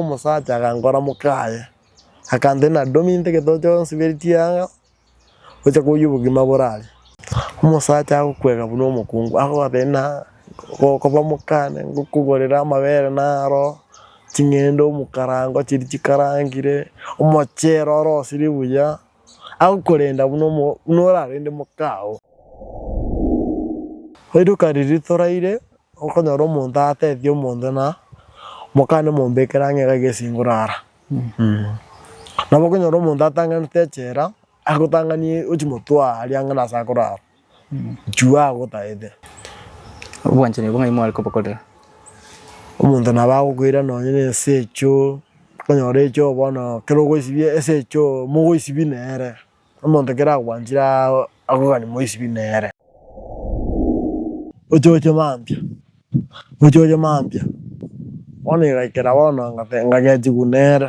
Omosacha agankora mokaye, akantena, Domi nte getoto chionsi beritie anga, gocha koyia obogima bore aria. Omosacha agokwega buna omokungu, agoabena, gokoba mokane, ngokogorere amabere naro, ching'ende omokarango chiria chikarangire, omochero ore osiri buya. Agokorenda buna orarende mokao. Rituko riria toraire okonyora omonto atetetie omonto ng'a mokane mombekere ang'e iga iga esinguru ara. Nabo okonyora omonto atang'anete echela agotang'anie ochia motwe aria ang'e nase akorara. Inchuo agotaete. Obwanchani obwo ng'ai mware kobokorera? Omonto nabo agokoira nonye na ensee choo, okonyora echoo bono ekero ogoisibia ase echoo mogoisibia nere, omonto ekero akogwanchire aa akogani moisibi nere. Ochoche mambia, ochoche mambia, bono igaikera bono ngate ngagechigwa nere.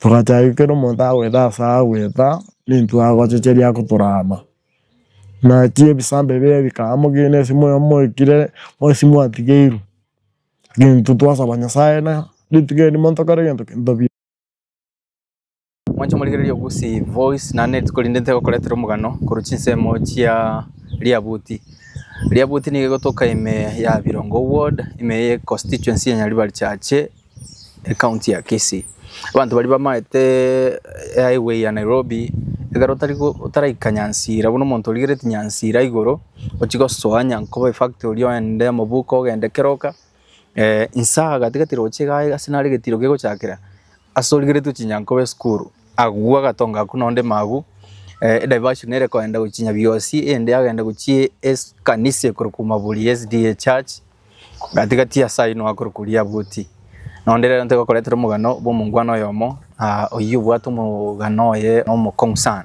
Togachaka kera omonto agoeta ase agoeta nintwe agochicheria agotorama. Naki ebisambe bire bikaba mogina esimo eye moikire mwesi mwatigeirwe nintwe twasaba nyasaye na rituko erio monto kore gento tobi. Mwanche morigereria ogosie voice naende rituko rinde ntegokoretera omogano korwa chinsemo chia riabuti. Riabuti nigo egotoka ime ya Birongo ward, ime ya econstituency ya Nyaribari chache. Ecounty ya Kisii. Abanto baria bamaete highway ya Nairobi ekero otari otaraika Nyansira buna omonto origereti Nyansira igoro ochie gosoa Nyankoba efactory oende Mobuko ogende keroka nsaa gatigati roche iga iga ase nare egetiro kegochakera ase origereti gochia Nyankoba esukuru agwo agatonga akwo nonde magwo ediversion ere koenda gochia Nyabiosi eyende yagenda gochia ekanisa ekorokwa Maburi SDA Church. Gati gati ase ayio nigo akorokwa oria abuoti. Na onde rero ntigokoretera omogano bwa omongwana oyomo, ah, oyio obwate omogano oye omokong'u sana.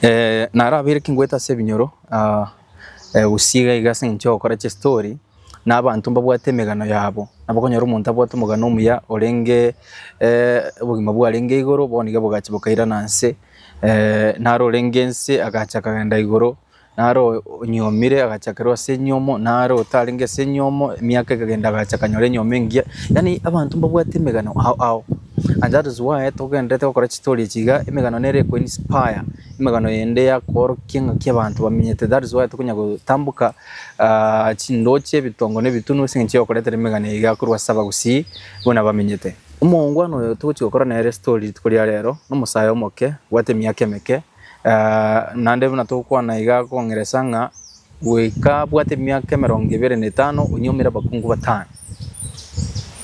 Eh, naro abeire ekengwete ase ebinyoro, ah, eh, gosii iga iga ase eng'encho ya ogokora chistori, na abanto mbabwate emegano yabo. Nabo okonyora omonto abwate omogano omuya orenge eh, obogima bwarenge igoro, bono iga bogacha bokairana nse, eh, naro orenge nse agacha akagenda igoro. Naro onyuomire agachakerwa ase enyuomo, naro otarenge ase enyuomo emiaka ekagenda agacha akanyora enyuomo engiya. Yaani abanto mbabwate emegano ao ao and that is why togendererete gokora chistory echi iga, emegano nere eko inspire, emegano yende yakoorokia ng'aki abanto bamenyete that is why tokonya gotamboka ah, chindoche, ebitongo na ebitunu ase eng'encho y'okoretera emegano eye iga korwa ase abagusii buna bamenyete. Omoongwana oyo togochia gokora nere story rituko ria rero, nomosae omoke, obwate emiaka emeke, Naende buna togokwana iga akong'eresa ng'a goika abwate emiaka emerongo ebere na etano onyomire abakungu batano.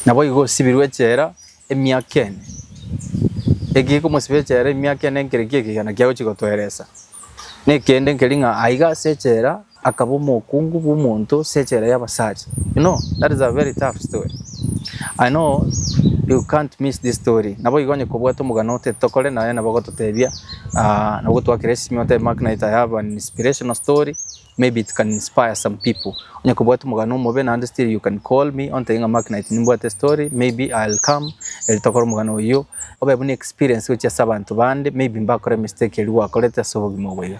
Naboigo osibirwe echela emiaka ene. Eki gekomosiba echela emiaka ene nkerekio ekegena kiagochia gotoeresa. Nekende nkeri ng'a aiga ase echela Akaba omokungu bw'omonto ase echela y'Abasacha. You know, that is a very tough story. I know you can't miss this story. Naboigo onye kobwate omogano otete tokore naye nabo ogototebia ah, nabo ogotwakera esimi otebe Mark Knight I have an inspirational story maybe it can inspire some people. Onye kobwate omogano omobe naende still you can call me ontebie ng'a Mark Knight nimbwate story maybe I'll come eri tokore omogano oyio obe buna experience gochia ase abanto bande maybe mbakore mistake eria gwakorete ase obogima obo iga.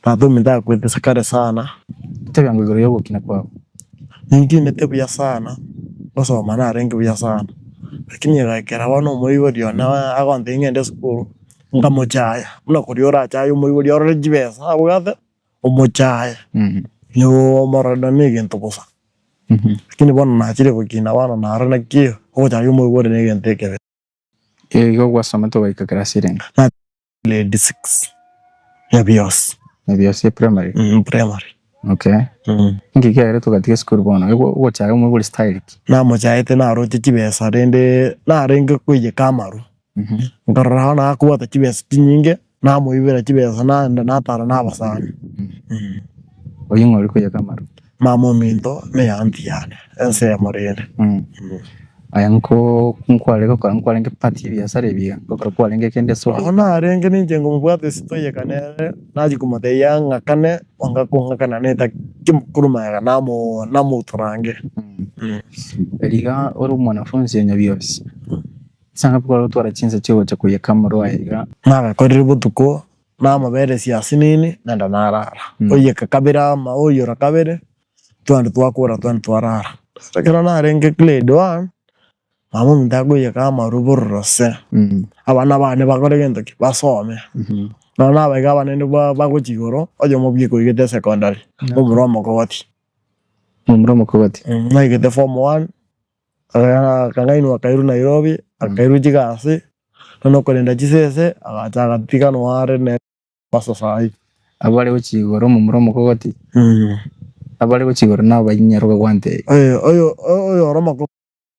Tata, omintakwete ase kare sana, ntebiango igoro y'ogokina kwabo. Nintimete buya sana ngosoma narenge buya sana, rakini egekera bono omoibori one agontebia ngende esukuru, nkamochaya, buna koria orachaye omoibori orore chibesa abwate, omochaye noo omorore nonye ne egento bosa. Rakini bono nachire gokina bono naro naki ogochayia omoibori ne egento ekebe. Igo gwasomete ogaika class renge? Grade six ya biosi Ebiosi primary. mm, primary Okay. mm. Inki kiagerete togatiga esukuru bono? Egwo ogochaya omwe bori style ki? namochaete naroche chibesa rende narenge koiyeka amaru Mhm. nkarora bono akobwata chibesa chinyinge namoibera chibesa naenda natara nabasani Oying'ori koiyeka amaru. Mama ominto neyanti yane ense yamorende Aya nkware gokora nkwarenge part ye biasara ebiga gokora kwarenge kende so Oyo narenge ninche ngomobwate ase toyeka nere nachi komotebia ang'akane onga kong'akana neta ki mokoro magega namo namotorange Riga ore omwanafunzi onya biosi ase ng'a kware gotwara chinsa chigocha koyeka moro aye iga. Nagakorire botuko. Namoberesie ase nini naende narara. Oiyeke kabere ama oiyora kabere twende twakora twende twarara. Ekero narenge grade one mama ominto akoiyeka ama robororo se abana bane bakore gento ki? Basome. Nonye nabaebi abana inde bagochia igoro oyomo bweka oigete secondary omura omokogoti. Omura omokogoti. Naigete form one Akang'ainwa akairwa Nairobi akairwa chigasi nonya okorenda chisese agacha agatiganwa are nere asasai. Abwo are gochia igoro omomura omokogoti abwo are gochia igoro nabo bainyara okogwansa eye. Oyo ore omokogoti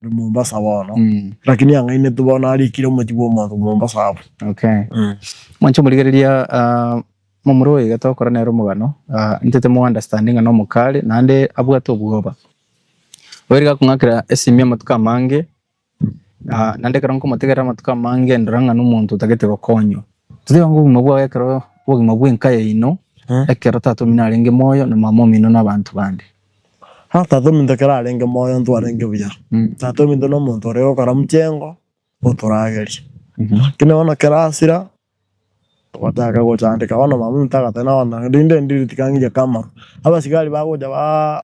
ore Mombasa bono lakini ang'ainetwe bono arikire omochie bwa omonto Mombasa abwo. Moche omorigererie momura oyo iga togokora nere omogano intete mo understande ng'a nomokare naende abwate obwoba. Oirige akong'akera esimi amatuko amange, ah naende ekero nkomotegerera amatuko amange ndore ng'a nomonto otagete gokonywa. Toteba ng'a obogima bwaye ekero obogima bwa enka yaino, ekero tata omino arenge moyo na mama omino na abanto bande. Bono tata ominto ekero arenge moyo ntwarenge buya, tata ominto na omonto ore gokora mchengo otoragerie. Lakini bono ekero asira, togotaka gochandeka bono mama ominto agateba bono rinde ndiri tiga ng'ige kama. Abasigari bagocha ba.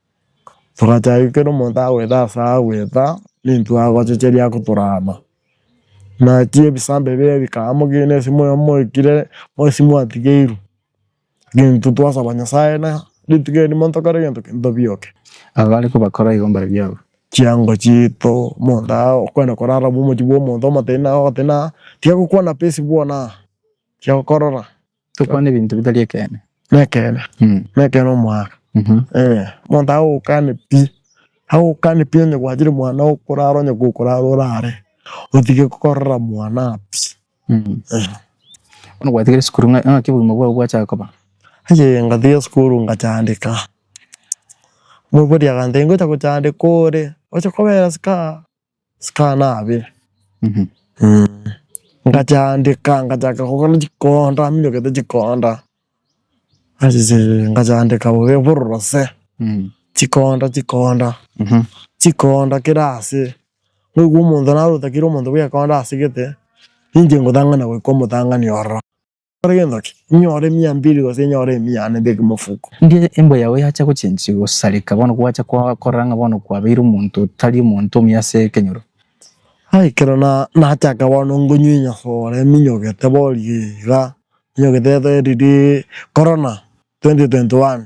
Togachaka ekero omonto agoeta ase agoeta nintwe agochicheria agotorama. Naki ebisabe bire bikaba mogina ase moyo moikire mwesi mwatigeirwe nintwe twasaba nyasaye na rituko erio monto kore gento ki ntobioke. Abare kobakora igo mbare biabo. Chiango chiito omonto agokwena korara omochie bwa omonto omotebi naye ogoteba tiga gokwana pesa bwanaa tiga gokorora. Tokwana ebinto bitari ekeene. Nekeene Mm. nekeene omwana Mhm. eh omonto agokane pi agokane pi onye gwachire mwana okorara onye gokorara orare otige korora mwana pi Mm. eh. Bono gwatigire esukuru ng'a- ng'aki obogima bwao bwachaka koba? Ayee ngatiga esukuru ngachandeka omobori agantebia ngocha gochandeka ore oche kobera sikaha Sikana abe ngachandika ngachaka kogora chikonda ninyogete chikonda asise ngachandika bobe borose chikonda chikonda chikonda kera ase naigwe omonto narotakire omonto bwekonda asegete ninche ngotang'ana goika omotang'ani ororo. Inkore gento ki? Inyore emia mbiri gose inyore emia ane beke mofuko. Ndie embwa yao yacha gochenchigwa gosareka, bono gwacha gokorora ng'a bono kwabeire omonto otari omonto omuya ase ekenyoro. Aye ekero nachaka bono ngonywa enyasore minyogete boria iga, minyogete ere eriri Corona 2021.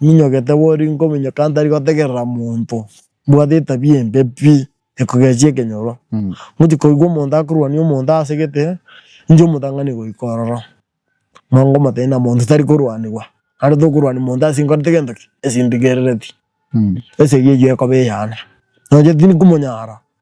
Ninyogete boria nkominyoka ntari gotegerera monto, mbwate etabia embe pi, ekogechia ekenyoro. Ngochia koigwa omonto akorwania omonto ase egete, ninche omotang'ani goika ororo. Nabo nkomotebia ng'a monto tari korwanigwa, naende tokorwania monto ase nkorete gento ki? Ase ndigerereti. Esegi eyio ekoba eyane. Naende tindi komonyara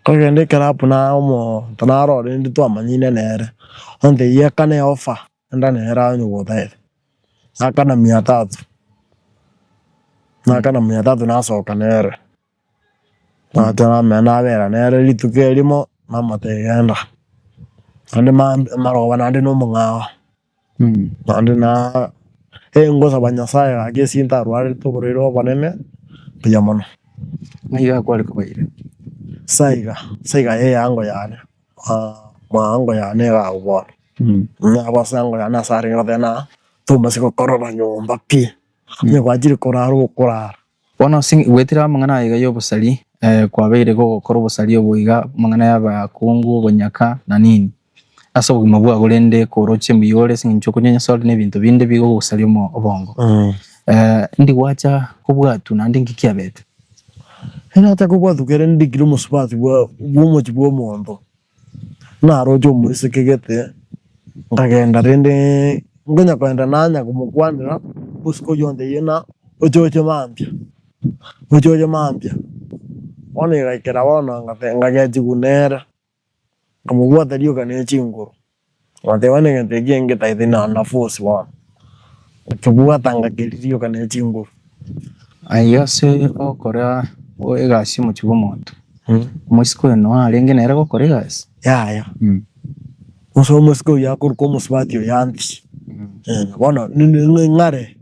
Nkagenda ekero abwo na omonto narorende twamanyine nere, ontebia ekana eofa enda nere aye nyogotebia, nakana mia tatu, nakana mia tatu nasoka nere, nagocha namenya nabera nere rituko erimo namotebia genda, naende maroba naende na omong'ao. Naende na engosaba Nyasaye gaki ase ntarwarete oborwaire obonene buya mono, nigo akware kobaira ase aiga ase aiga y'eango yane eango yane egao bono nabo ase eango yane asare ngoteba na tomanye gokorora nyomba pi, onye gwachire korara okorara. Bono ase gwetire amang'ana aiga y'obosari, kwabeire gogokora obosari obo iga, amang'ana y'abakungu, obonyaka, na nini, ase obogima bwabo, rende kooroche emiyoore ase engencho y'okonya Nyasae ore nebinto binde bigogosaria obongo. Ndi gwacha kobwatu naende inki kiabete? Nacha kobwatu kere ndikire omosubati bw'omochie bw'omonto. Naroche omoisekegete nkagenda rende nkonya kogenda nanya komokwanera botuko oye ontebia buna oche oche mambia oche oche mambia bono igaikera bono nkagechiwa nere nkamobwata rioka ne chinguru Goteeba negento eke engetaete na nabosi bono, nkebwata ngaki riroka ne chinguru. Aye ase ogokora egasi omochie bwa omonto, omosike oyo noyo arenge nere gokora egasi? Yaya, gose omosike oyio akoruka omosubati oyo antie, bono ng'are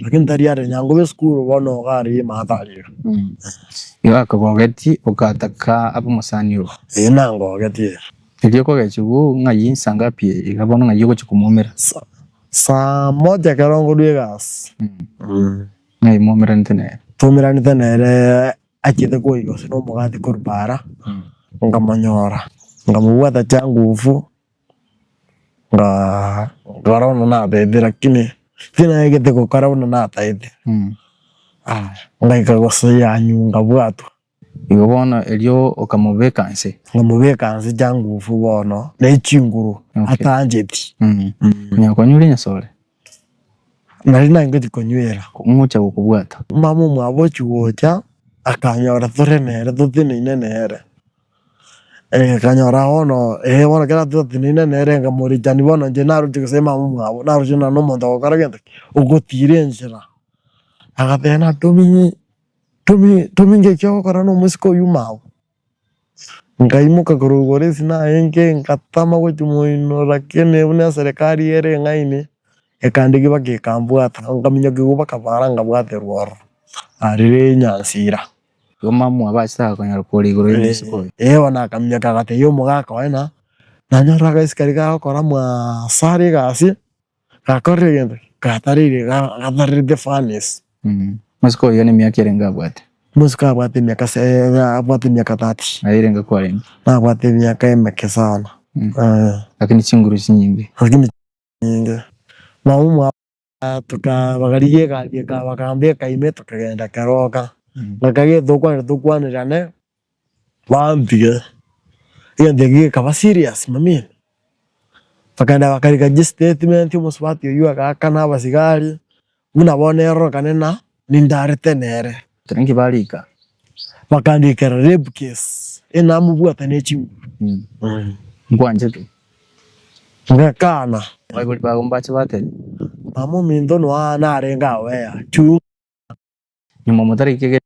lakini tari are nyangoba esukuru bono iga are emaate are iga. Igo akogogetie ogataka abe omosani obo? Ee, nangogetie. Erio kogechia obwo ng'ai insa ngapi iga bono ng'ai ogochia komoumera? Saa moja ekero nkorwa egasi. Ng'ai mwoumeranete nere? Twoumeranete nere achiete koiga gose nomogati korwa paara nkamonyora nkamobwata chiangufu nga nkora buna nataete lakini tinaegete gokora buna nataete. Aya ngaika gose yanyunga bwatwa Igo bono erio okamobeka nse. Nkamobeka nse changufu bono nechinguru atancheti. Konya konyweria nyasore. Nari nangeti konywera. Ngocha gokobwata. Mama omwabo ochigocha akanyora tore nere toteneine nere. Akanyora bono ee bono kera toteneine nere nkamorichani bono inche naroche gose mama omwabo naroche nonya nomonto ogokora gento ki? Ogotira enchera. Agateba natominye Tomi, Tomi, nki eki ogokora nomosike oyio mao? Nkaimoka korogora esinaye enke, ngatama gotimoinora kene ebu neserekari ere eng'aini, ekande gibake ekambwata, nkaminyokigwa bakabara nkabwaterwa ororo arire enyansira. Igo mama obo achaka konyora kore igoro y'omosike oyio. Ee, bono akaminyoka agatebia omogaka one, na, nanyorire agasike aria kagokora mwaasare egasi, Gakorire egento gatareire gatarerete furnace. Omosike oyio nemiaka erenge abwate? Omosike abwate emiaka se abwate emiaka thirty. Aye erenge kwarenge? Nabwate emiaka emeke sana eh. Lakini chinguru chinyinge. Lakini nyinge nabo mwa tuka bakarigia egari eka bakambeka ime tokagenda keroka. Bakagenda tokwanire tokwanire ane Bantige. Egento ekio gekaba serious mamino. Bakagenda bakarigia chistatimente omosubati oyio agaaka na abasigari buna bono erorokane na nindarete nere. Tari inki bariika. Bakandikera rape case enamobwate ne chinguru. Nkwanchete. Ngakana. Abaibori babo mbache batebe. Mama ominto noa narenge ago ea. Chunga. Nyuma motarikia egere.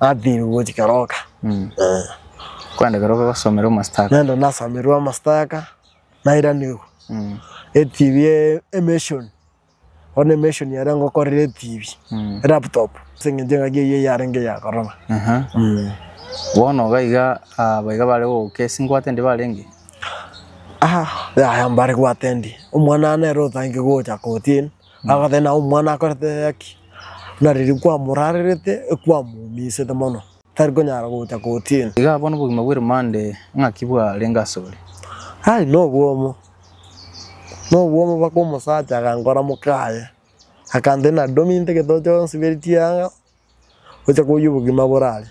Athiri gochi keroka. Mm. Eh. Kwenda keroka gosomera omastaka. Nenda nasomerwe omastaka nairanigwe. Mm. ETV e emission. Ona emission yare ngokorera ETV. Mm. Laptop. Seng'enche ng'aki eyio yarenge ya koroma. Aha. Mm. Bono gaiga abaiga bare goke singwate ndi barenge. Aha, yaya mbare gwate ndi. Omwana nere otange gocha kotini. Agoteba ng'a omwana akorete eyaki, na riria kwamorarerete ekwamoumisete mono, tari konyara gocha kotini. Iga abwo nobogima bw'eromande ng'aki bwarenge asore. Ai, nobwomo, nobwomo mpaka omosacha agankora mokaye, akantebi, Nadominto egento kionsi beri chianga, gocha koyia obogima borare.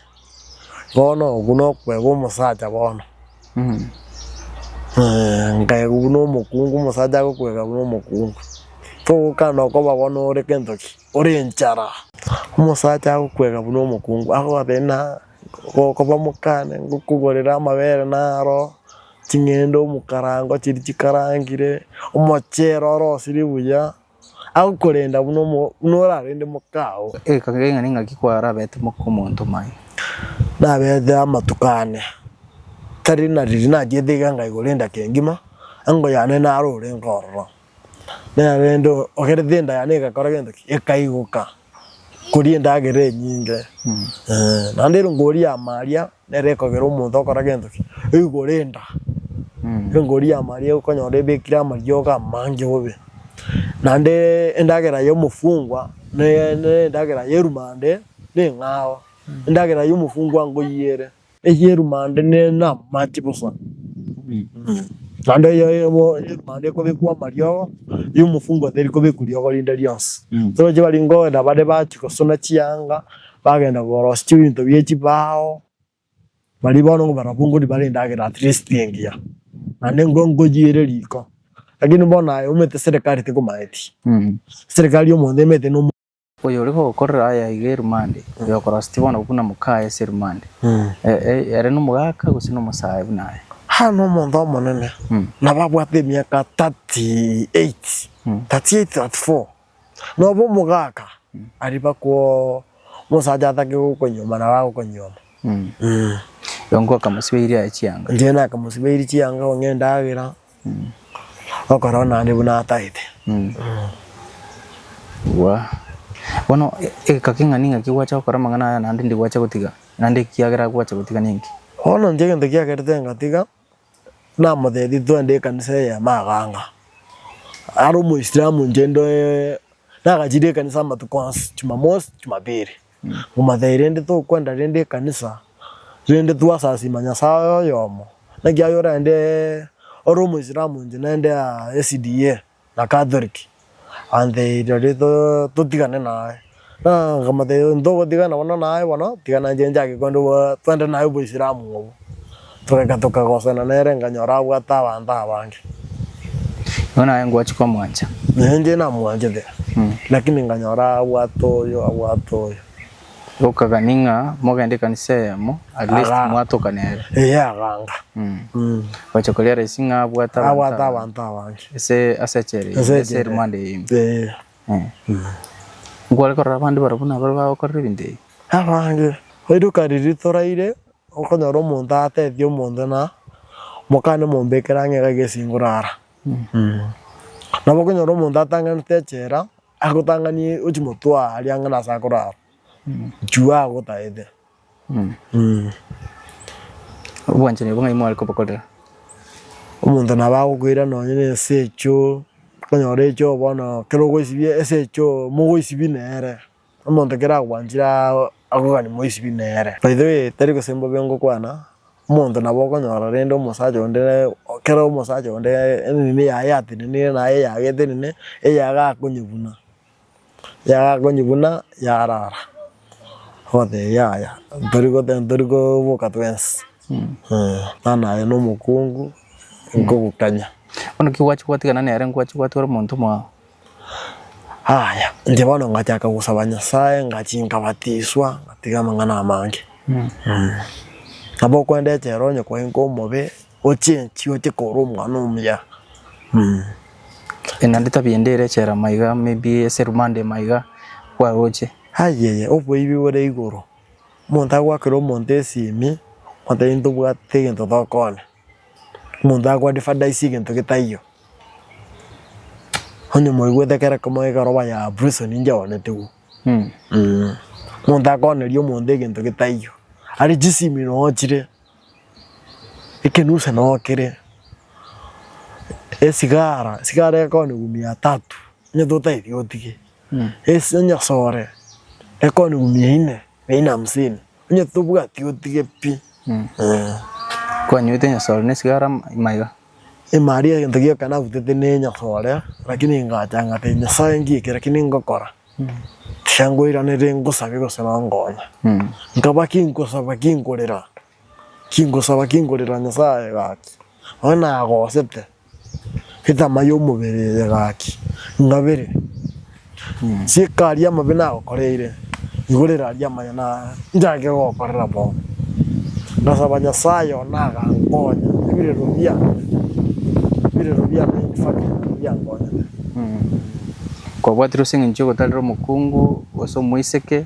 Bono obwo nokwega omosacha bono eeh nkaegwa buna omokungu omosacha agokwega buna omokungu togokana okoba bono ore gento ki? ore enchara. Omosacha agokwega buna omokungu akogotebia buna okoba omokane ngokogorera amabere naro, ching'ende omokarango chiria chikarangire, omochero ore osiri buya. agokorenda buna orarende mokao. Ekabira y'ing'ana ing'aki kwarabete moka omonto maye. Nabete amatuko ane, tari na riiri nachiete iga enga igoro endaki engima, engo yane naro ore nkororo. Nerende ogerete enda yane egakora gento ki? Ekaigoka. koria endagera enyinge naende ere ngoria amaria nere ekogera omonto okora gento ki igoro enda ere ngoria amaria okonyora ebekire amariogo amange bobe naende endagera ya omofungwa ne endagera ya erumande neng'ao endagera ya omofungwa ngoyie ere. ey'erumande nen'amache bosa, naende eyemo y'erumande ekobekwa amariogo, y'omofungo teri kobekwa riogo rinde rionsi. Toroche bari nkogenda bare bachia gosuna chianga, bagenda korosia chibinto bie chibao, bari bono barabwo nkori bare endagera at least engiya, naende nko nkoyiere riko. Lakini bono aye omanyete serikari tekomaeti, serikari omonto emanyete nomo. Oyore gokorera aya iga erumande, oyokoroseti bono buna mokaye ase erumande, ere nomogaka gose nomosae buna aye? Aa nomonto omonene, nabo abwate emiaka thirty eight, thirty eight, thirty four, nobe omogaka, ariba kwo omosacha atake gokonyuoma nabo agokonyuoma. Igo nkoakamosibeirie aye chianga. Inche nakamosibeirie chianga kong'ea endagera. Okorora naende buna ataete. Igwa, bono egeka king'a ning'aki gwacha gokora amang'ana aya naende ndi gwacha gotiga? Naende ekiagera gwacha gotiga nenki? Bono inche egento kiagerete ngatiga, namotebirie twende ekanisa eye ya maganga. Are omoisilamu inche ndoe nagachirie ekanisa amatuko onsi, jumamosi, jumapili. Momathai rende tokwenda rende ekanisa, rende twasasima Nyasaye oyomo, naki aye orende ore omoisilamu inche nende SDA na Catholic and rirorio totigane naye. Momathai ntogotigana bono naye bono, tigana inche nchake kwenda twende naye oboisilamu obo. Togeka tokagosana nere, nkanyora abwate abanto abange. Igo naye ngwachi komwancha. Na inche namwanchete, lakini nkanyora abwate oyo, abwate oyo. Gokagani ng'a mogende ekanisa eyemo, at least Aga- mwatoka nere. Eye aganga. Mm. Gocha korealize ng'a abwate abanto Abwate abange. abanto abange. Ase ase echela eyemo, Ase ase echela. erumande eyemo. Eh, Eh. Nkware korora abande barabwo nabare bagokorera ebinto ebi. abange. Oirokari ritoraire, Okonyora omonto atetetie omonto ng'a mokane mombekere ang'e iga agesingore ara. Nabo okonyora omonto atang'anete echela agotang'anie ochi motwe aria ang'e nase akorara juu agotaete. Obwanchani obwo ng'ai mware kobokorera? Omonto nabo agokoira nonye na esecho, okonyora echogo bono ekero ogoisibia esecho mogoisibie nere. Omonto ekero agwanchire akogani moisibi nere. By the way tari gose mbobe ngokwana, omonto nabo okonyora rende omosacha onde ekero omosacha onde enini yaye yatenenire naye eyagete nini eyago akonyebuna, eyago akonyebuna yarara ogotebi yaya ntori koboka twensi eh nani aye na omokungu nkogokanya. Bono ki gwachi gwatigana nere ngwachi gwatigara omonto omwao. Aya, inche bono ngachaka gosaba Nyasae, ngachia nkabatiswa, ngatiga amang'ana amange. Nabo okorende echela onye kwaika omobe, ochenchie oche koro omwana omuya. Naende tabia ende ere echela maiga maybe ase rumande maiga kwaroche. Ayiya, oboibi bore igoro, omonto agoakera omonto esimi, omonto aye intobwati egento tokona. Omonto ago advertise egento getaiyo, onye mwaigwete ekero kemo ekeroba ya prison ninche onetigwe eh. Omonto akoneria omonto egento getaiyo, aria chisimi noo chire, ekenusu noo kere, esigara, esigara ekonigwa mia tatu onye totaeti otige, esi- onye sore ekonigwa mia ine, mia ine hamsini. Onye tobwati otige pi. Kwanyoete enyasore nesigara maiga. Imari egento gioka nabutete nenyasore lakini ngacha ngate Nyasaye nki eke lakini ngokora tiga ngoiranerie ngosabie gose nongonya. Nkaba ki nkosaba ki nkorera ki nkosaba ki nkorera Nyasaye gaki. Nabo nagosete etama y'omobere eye gaki ngabere, nsieke aria amabe nagokoreire, igorere aria amaya na nchake gokorera bono. Ngasaba Nyasaye one agankonya ebirero biane, ebirero biane in fact nabio biankonyete. Kwabwatire ase eng'encho y'ogotarera omokungu gose omoiseke,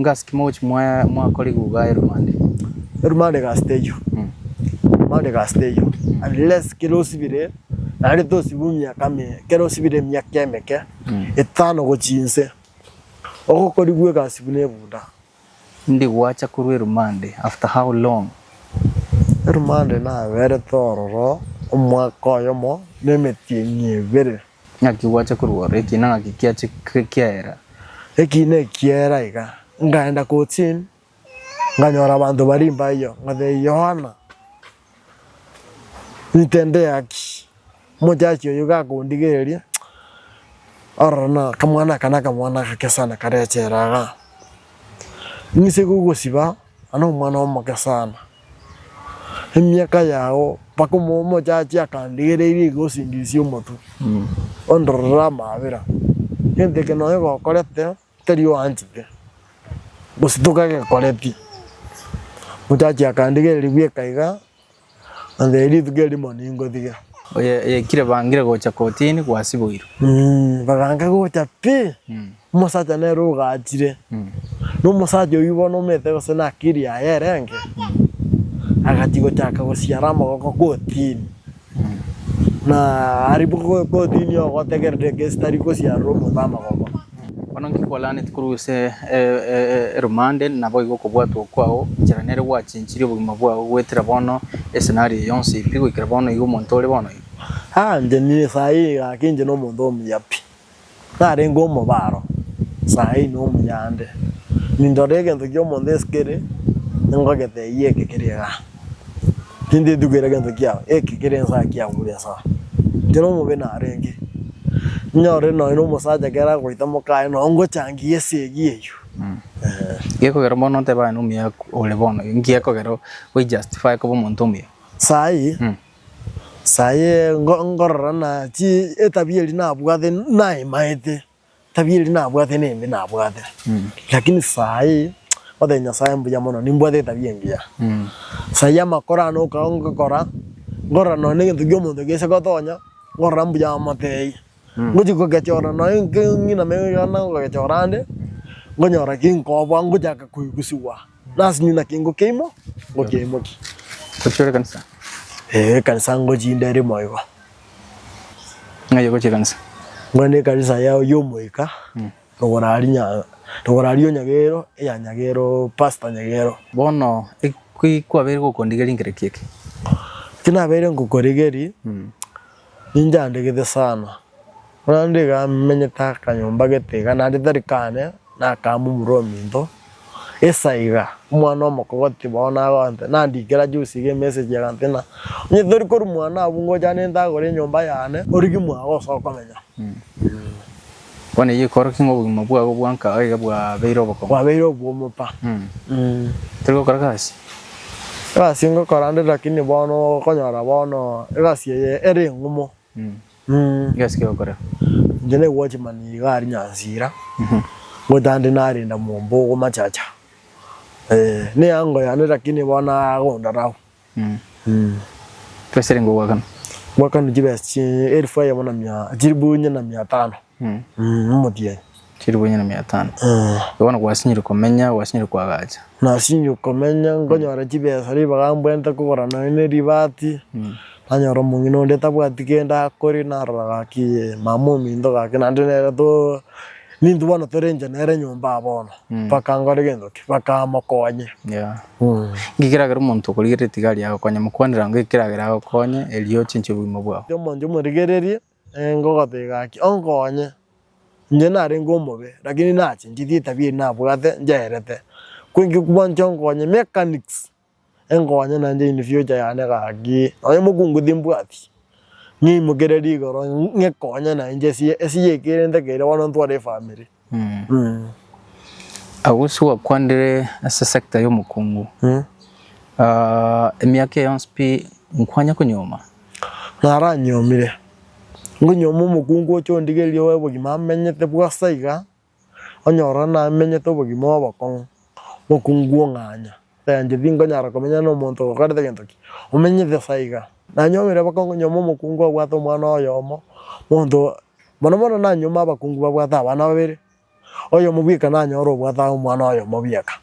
Ngasi ki mogochi mwakora iguga eromande? Eromande egasi teyio, eromande egasi teyio unless kere osibire naende tosibu emiaka menge, kere osibire emiaka emeke etano gochia inse, ogokorigwe egasi buna ebuda. Ndigwacha korwa eromande after how long? Eromande naberete ororo omwaka oyomo na emetienyi ebere. Ng'aki gwacha korwa ore, ekiina ng'aki kiache kiaera? Ekiina ekiaera iga, ngaenda Kotsin, nganyora abanto baria imba eyio, ngatebia Yohana, Nintende gaki omochachia oyio iga akondigereria? Ororo na akamwana aka na akamwana agake sana karechera iga. Ninse gogosiba, na nomwana omoke sana. emiaka yao mpaka omochachi akandigereirie iga osingisie omotwe ondorere amaabera egento eke nonya gokorete tari oanchete gose tokagekoreti omochachi akandigereria bweka iga nantebia rituko erimo ningotige. Oyekire bangire gocha kotini gwasiboirwe. Bagange gocha pi. Omosacha nere ogaachire, na omosacha oyio bono omete gose n'akiri yaye erenge, agachia gochaka gosiara amagoko kotini. Na aria bo- kotini oo gotegerera egesi tari gosiarera omonto amagoko. Bono nki kwalaaneti korwa ase e- e- e- eromande, naboigo okobwatwa okwao inchera nere gwachinchirie obogima bwao goetera bono esenari eye yonsi pi goikera bono igo omonto ore bono igo. Aa, inche nire saa eye gaki inche nomonto omuya pi. Narenge omobaro saii na omuyande, nindora egento kia omonto ase kere, ningogete eyio eke kere igaa. Tintetugera egento kiao, eke kere ensaa kiagure ensaa. Ekero omobe narenge, ninyore nonya na omosacha ekero agoita moka aye nonya ngochangia esegi eyio eeh. Gekogera bono otebe aye na omuya ore bono, nki gekogera o justify koba omonto omuya? Saii. Saa eye ngorora ng'a etabia eria nabwate naemaete, etabia eria nabwate nembe nabwate, lakini saa eye ngotebi Nyasaye mbuya mono nimbwate etabia engiya. Saa eye amakoro ane okaba ngokora, ngorora nonya na egento kia omonto kiacha gotonya, ngorora mbuya amotebia. Ngochia kogechora nonya ng'iname yonde ngogechora ande, ngonyora kinkoboa ngochaka koigusigwa. Nasi nyi naki ngokia imo, ngokia imo ki? Gochia ore ekanisa? Ee, ekanisa ngochia inde ere moigo. Ng'ai ogochia ekanisa? Ngwane ekanisa ya oyio omoika, rogoro aria nya, rogoro aria o Nyagero, eya Nyagero, Pastor Nyagero. Bono eki kwabeire gokondigeria nkereki eke? Eki nabeire ngokoregeria, Ninche andegete sana, buna ndiga menyete akanyomba gete iga, naende tari kane nakamumura ominto, isa iga, omwana omokogoti bono nagonte, nandikera juzi iga emessage agantebia ng'a onye tori korwa mwana abwo ngocha nintagore enyomba yane, origie mwago ase okomenya. Bono eyio ekorokigwe ng'a obogima bwabo bwanka aiga bwabeire obokongo. Bwabeire obw'omopa. Tori gokora egasi? Egasi ngokora nde lakini bono okonyora bono egasi eye ere eng'umo. Egasi ki okorera? Inche ne watchman iga aria Nyansira, ngotande narinda mwomba ogo machacha. Ee, neango yane lakini bono agondora abwo. Twesirenge ogwakana. Gwakana chibesa chi elfu eyemo na mia chilifu inye na mia tano omotienyi. Chilifu inye na mia tano. Igo bono gwasinyire komenya gwasinyire koagacha. Nasinyire komenya nkonyora chibesa ribaga mbwente kogora nonya ribati nanyora omong'ina onde tabwati kende akore narora gaki mama ominto gaki naende nere to. Nintwe bono torenche nere nyomba aa bono? Bakankora gento ki? Bakamokonya. Yeah. Inki keragera omonto okorigereria etigari agokonye? Mokwanera ng'o ekeragera agokonye erio ochenchie obogima bwao? Omonto omorigererie, ee, ngogotebi gaki, onkonye. Inche narenge omobe, lakini nachechineti etabia eye nabwate, nchiaerete. Ko inki bwancha onkonye? Mechanics. Enkonya nainche in future yane gaki, nonye mokungu timbwati, ng'imokereri igoro ng'ekonye nainche esiye esiye ekerente kere bono ntware efamiri eh. Agwo ase gwakwandire ase sector ya omokungu, emiaka eye yonsi pi nkwanya konyuoma? Naranyuomire, nkonyioma omokungu oche ondigeririe obo obogima amenyete bw'asa iga, onyorora namenyete obogima obokong'u, bokong'u ng'anya, eranche tingonyara komenya nomonto ogokorete gento ki, omenyete sa iga. Nanyuo omoira bokong'u nyuoma omokong'u obwate omwana oyomo, monto mono mono nanyuoma abakong'u babwate abana babere, oyomo bweka nanyore obwate omwana oyomo bweka.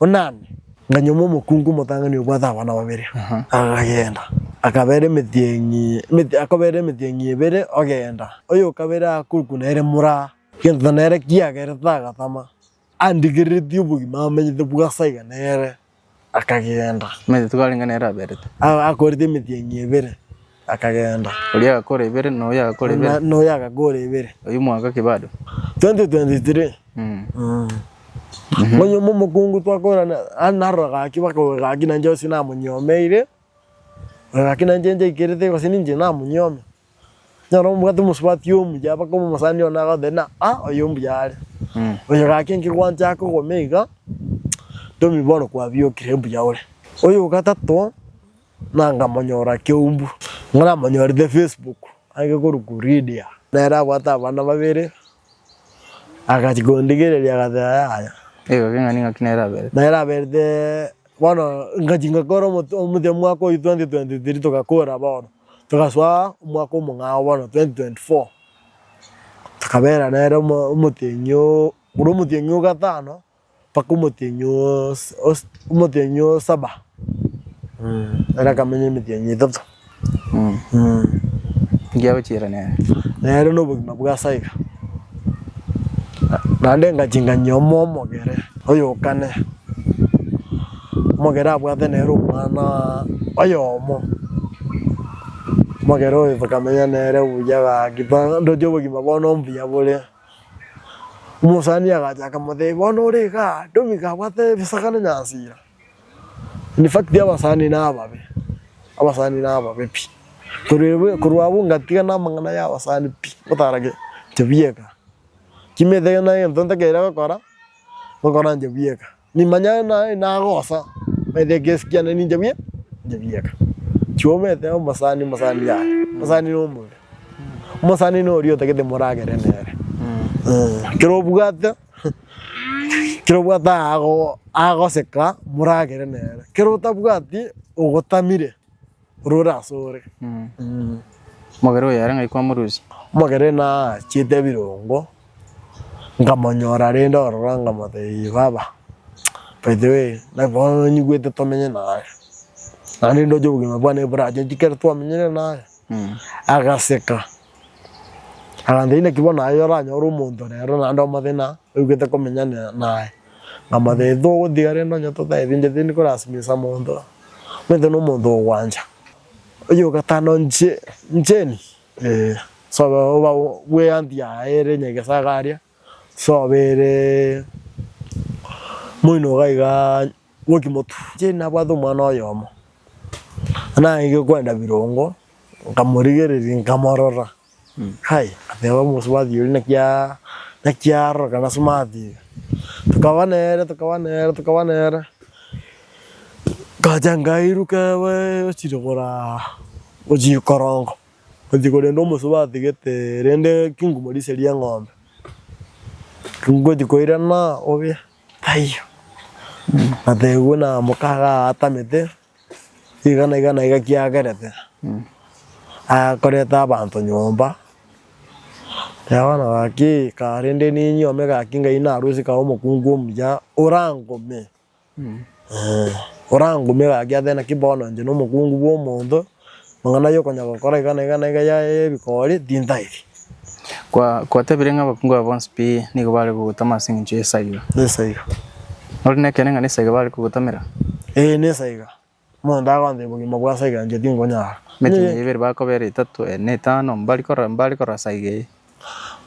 onane. Na nyuma omokungu omotang'ani obwate abana babere agagenda, akabeera emetienyi, emeti, akobeera emetienyi ebere ogenda, oyokabere akorokwa nere moraa, gento nere kiagere tagatama, andigereretie obogima amenyete bwasa iga nere, akagenda. Omanyete twarenge nere aberete. Akorete emetienyi ebere. Akageenda. Oria agakora ebere, na oyo agakora ebere. Na, na oyo agakora ebere. Oyio mwaka ki bado? 2023. Mm. Mm. Ngonya omo omokungu twakorana, ah, narora gaki bakauga gaki nanje gose namonyomeire, oyo gaki nanje njaikerete gose ninche namonyiome. Nyora omobwate omosubati omuya baka omosani one agote ng'a ah, oyo mbuya are. Mm. Oyo gaki enkegwancha akogoma iga, ntomi bono kwabiokire mbuya ore. Oyo ogatato. na nkamonyora Keumbu, ng'a namonyorete Facebook age korokwa Lydia. Nere abwate abana babere, agachia kondigereria agateba yaya. Nigo keng'ana ing'aki nere aberete. Nere aberete bono ngachia ngakora omote omote omwaka oyio 2023 togakora bono, togasoa omwaka omong'ao bono 2024, tokabera nere omo omoteng'io ore omoteng'io o gatano. mpaka omotienyi omotienyi o saba ere akamenya emetienyi etato. Nki agochiera nere? Nere na obogima bwa ase aiga. Naende engaki nganyia omo omogere oyokane, omogere abwate nere omwana oyomo, omogere oyo tokamenya nere buya gaki, ndoche obogima bono mbuya bore. Omosani agacha akamotebia, Bono ore iga, ndomi iga abwate ebisaga na nyansira. In fact abasani nababe, abasani nababe pi. Korwa abwo ngatigana namang'ana ya abasani pi, ngotara inche bweka. Kimete naye egento ntakeiyo gokora, ngokora inche bweka. Nimanyare naye nagosa, naende egesi kiane ninche bie, ninche bieka. Tiomete omosani omosani yaye, omosani na omobere. Omosani na oria otagete moragere nere. Eeh, kero obwate, kero obwate ago agoseka moragere nere, kero otabwati ogotamire. orore asore. Omogera oyo ere ng'ai kwamorusia? Omogera naachete ebirongo nkamonyora rende ororo nkamotebia baba by the way bono nyigwete tomenye naye naende ndoche obogima bwane borachunte ekero twamenyire naye agaseka akantebia inaki bono aye oranyore omonto rero naende omothe na oigwete komenya naye. Namathetwe ogotiga rende onye totaebincheti niko orasimisa monto omanyete na omonto ogwancha oyokatana nche ncheni ee sobe oba bweanti yaye ere nyegesaga aria sobe eree moinoka igaa bwokimotu. Nche nabwate omwana oyomo naye gekwenda birongo. Nkamorigereria, nkamorora, hai, ngateba, omosubati oria naki naki aroroka na smart iga. Tokaba nere, tokaba nere, tokaba nere, ngacha nkairuka ewe ochire koraa ochire korongo, ochia korenda omosubati gete rende kingumo risia ria eng'ombe. Ngochia koirana obe taiyo, ngatebwa namoka iga atamete, Iga na iga na iga kiagerete, akoreta abanto nyomba, na bono gaki karende ninyuome gaki ngai narusie kae omokungu omuya orangome orangome gaki ase naki bono inche nomokungu bwa omonto. Amang'ana y'okonya gokora iga na iga na iga yaye y'ebikoori tintaeti. Kwatebire ng'a abakungu aba bonsi pi nigo bare kogotama ase engencho y'esaiga. Nesa iga. Nori nekeene ng'a nesaiga bare kogotamera? Ee, nesa iga. Omonto agontebia obogima bwa saiga inche tinkonyara. Emetemo eye ebere bakobera etato, ene, etano, mbari korora, mbare korora saiga eye.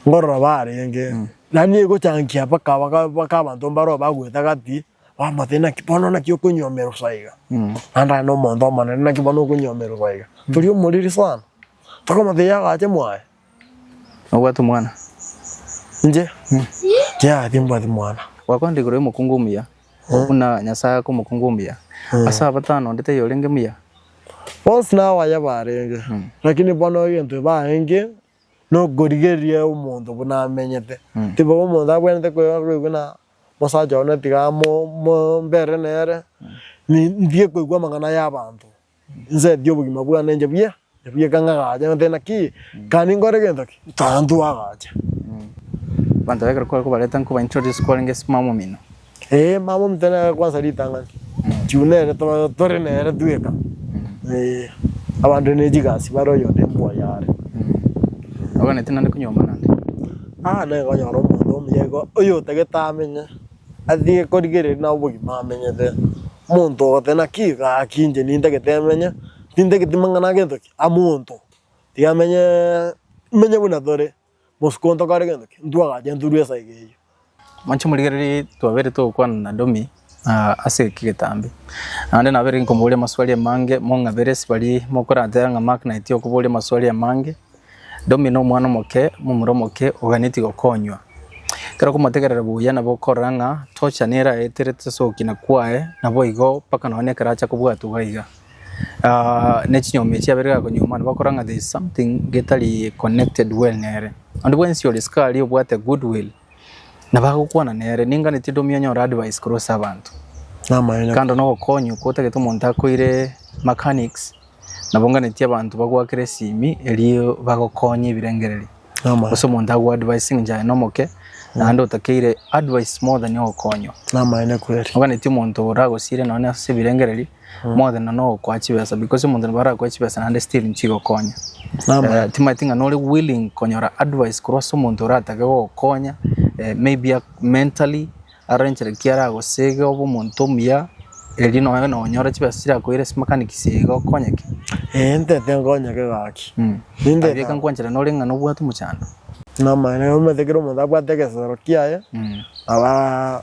Nkorora barenge. Yaani egochankia mpaka mpaka abanto mbaro bagoeta gati Omote naki bono naki okonyomerosa iga? Naende aye nomonto omonene naki bono okonyomerosa iga? Tori omoriri sana. Tokomotegia agache mwaye. Nobwate omwana? Inche? Yea, timbwati mwana. Gwakonire igoro y'omokungu omuya, buna Nyasae aka omokungu omuya ase abatano, onde taiyo orenge muya. Bonsi nabaye barenge, lakini bono egento ebae enke, Nokorigereria omonto buna amenyete. Tiga omonto abwenerete koigwa na omosacha one tiga mbere nere, ntige koigwa amang'ana y'abanto, nsetie obogima bwane inche buya, ebuya ekero ng'agacha ngoteba naki kare ninkore gento ki, tara ntwagache. Abanto ba ekero kwabareta nkoba introduce kwarenge ase omomino. Ee, mama omte nere kwansa ritang'ani, juu nere tore tore nere tweka. Ee, abande ne chigasi bare oyonde embwa yare. Oganete naende konyomba naende? Aa, nere konyora omonto omuya igo oyotagete amenye, atige korigereria nabo obogima amenyete. Omonto ogote naki gaki inche nintagete emenye, tintageti mang'ana agento ki? Amonto, tiga amenyee imenye buna tore. Bosuku ntokore gento ki? Ntwagacheturwe esaa eke eyio. Moche morigererie twabere togokwana na Domi ase eke getambe. Naende nabere nkomoboria amaswali amange, mong'abere ase baria mokoratera ng'a Mark naeti okoboria amaswali amange. Domi na omwana omoke, momura omoke oganeti gokonywa. Ekero okomotegerera buya nabo okorora ng'a tocha nere aeterete ase ogokina kwaye, naboigo mpaka nonye ekero acha kobwatwa iga iga. ne chinyomi echio chiabere gakonyuoma nabo bakora ng'a there is something getari connected well nere. Onde bwensi ore isiko aria obwate good will nabo agokwana nere. Ninganetie onde omia onyore advice korwa ase abanto. Namaene. Kando na ogokonywa okwo otagete omonto akoire mechanics, nabo nganetie abanto bagwakere esimi erio bagokonye ebirengererio. Namaene. Gose omonto ago advising inche aye nomoke naende otakeire advice more than ogokonywa. Namaene kweri. Oganetie omonto oragosiire nonya ase ebirengererio Moogenda nogokoa chibesa because omonto nabo arakoe chibesa naende still nchigokonya. Eh, timaeti ng'a nore willing konyora advice korwa ase omonto oratake gogokonya eh, maybe a- mentally arenchera ki aragosege obe omonto omuya erio nonya na onyore chibesa chirakoire ase mechanic siaiga okonyeke. Ee ntete nkonyeke gaki. Mm. Ninde Aye ka- kankwanchera nore ng'a nobwate omochando. Namaene omanyete kera omonto abwate egesoro kiaye Mm. naba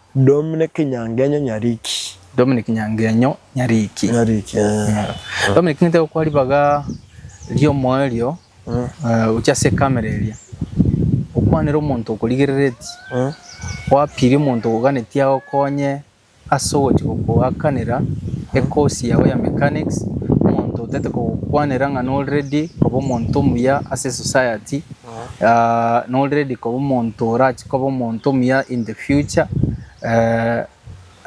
Dominic Nyangenyo Nyariki. Dominic Nyangenyo Nyariki. Nyariki, eeh. Dominic ng'ete gokwa ribaga ri'omoerio gochia ase ekamera eria, okwanere omonto okorigerereti, oapirie omonto oganetie agokonye ase ogochia gokoakanera ekosi yao ya mechanics, omonto otagete kogokwanera ng'a nori ready koba omonto omuya ase esociety. no ready koba omonto orache koba omonto omuya in the future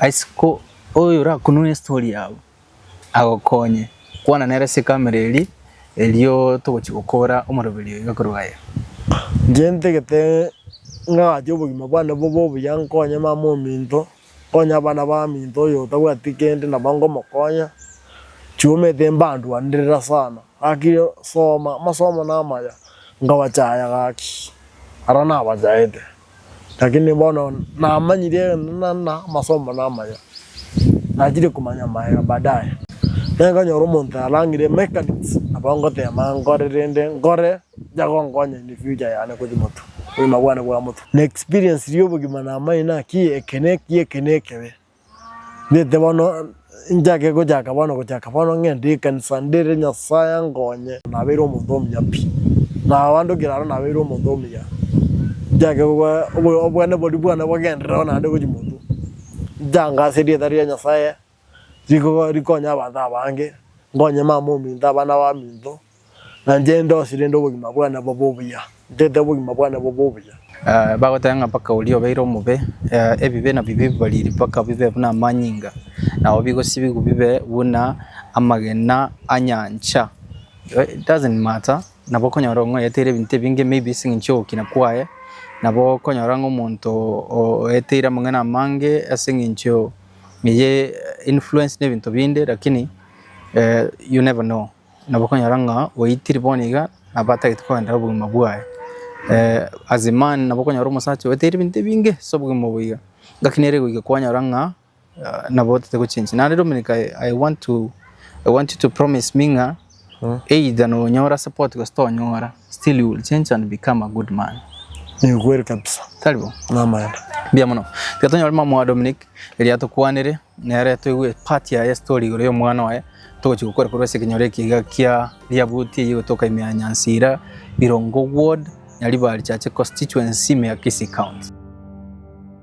isiko oyo orakunwe story yabo agokonye kwana nere ase camera eria erio togochia gokora omoroberi oyo iga korwa aye. Inche ntagete ng'ache obogima bwane bobe obuya nkonye mama ominto, nkonye abana baminto oyo otabwati kende nabo nkomokonya, chiomete mbaanduanera sana. Gaki soma amasomo namaya, nkabachaya gaki, ara nabachaete, lakini bono namanyire egento nana amasomo namaya, nachire komanya amaega baadaye. Nere nkanyora omonto yarangire emechanics, nabo ngoteema nkore rende nkore yagonkonya in the future yane gochia motwe, obogima bwane bwa motwe. Naexperiensiri obogima namanye naki eke neki eke nekebe. Ngete bono nchake gochaka bono gochaka bono ng'ende ekanisa ndere Nyasaye ankonye. Nabeire omonto omuya pi, na abande kera aro nabeire omonto omuya, nchake goba obwane boria bwane bogenderereo naende gochia motwe, nchanga ase erieta ria Nyasaye, riko rikonye abanto abange, nkonye mama ominto, abana baminto, Na inche ndose rende obogima bwane bobe obuya, ntete obogima bwane bobe obuya. Bagoteba ng'a mpaka oria obeire omobe, ebibe nabio bibariri mpaka bibe buna amanyinga, nao bigosibigwa bibe buna amagena a nyancha. It doesn't matter, nabo okonyora ng'a oyeteire ebinto ebinge maybe ase eng'encho y'ogokina kwaye, nabo okonyora ng'a omonto oeteire amang'ana amange ase eng'encho eye influenced nebinto binde lakini you never know. Nabokonyora ng'a oitire bono iga nabo atagete kogenderera obogima bwaye as a man nabo okonyora omosacha oeteire ebinto ebinge ase obogima obo iga. Ngaki nere goika kwanyora ng'a nabo otete gochengi. Naende Dominic I want to, I want you to promise me ng'a either nonyora support gose tonyora. Still you will change and become a good man. Ni ukweli kabisa. Karibu. Namaene. Mbia mono. Tiga tonyore mama wa Dominic eria tokwanire nere toigue part yaye story igoro y'omwana oye togochia gokora korwa ase ekenyoro eki iga kia Riabuti eyio egotoka ime ya Nyansira, Birongo ward, Nyaribari chache constituency, ime ya Kisii county.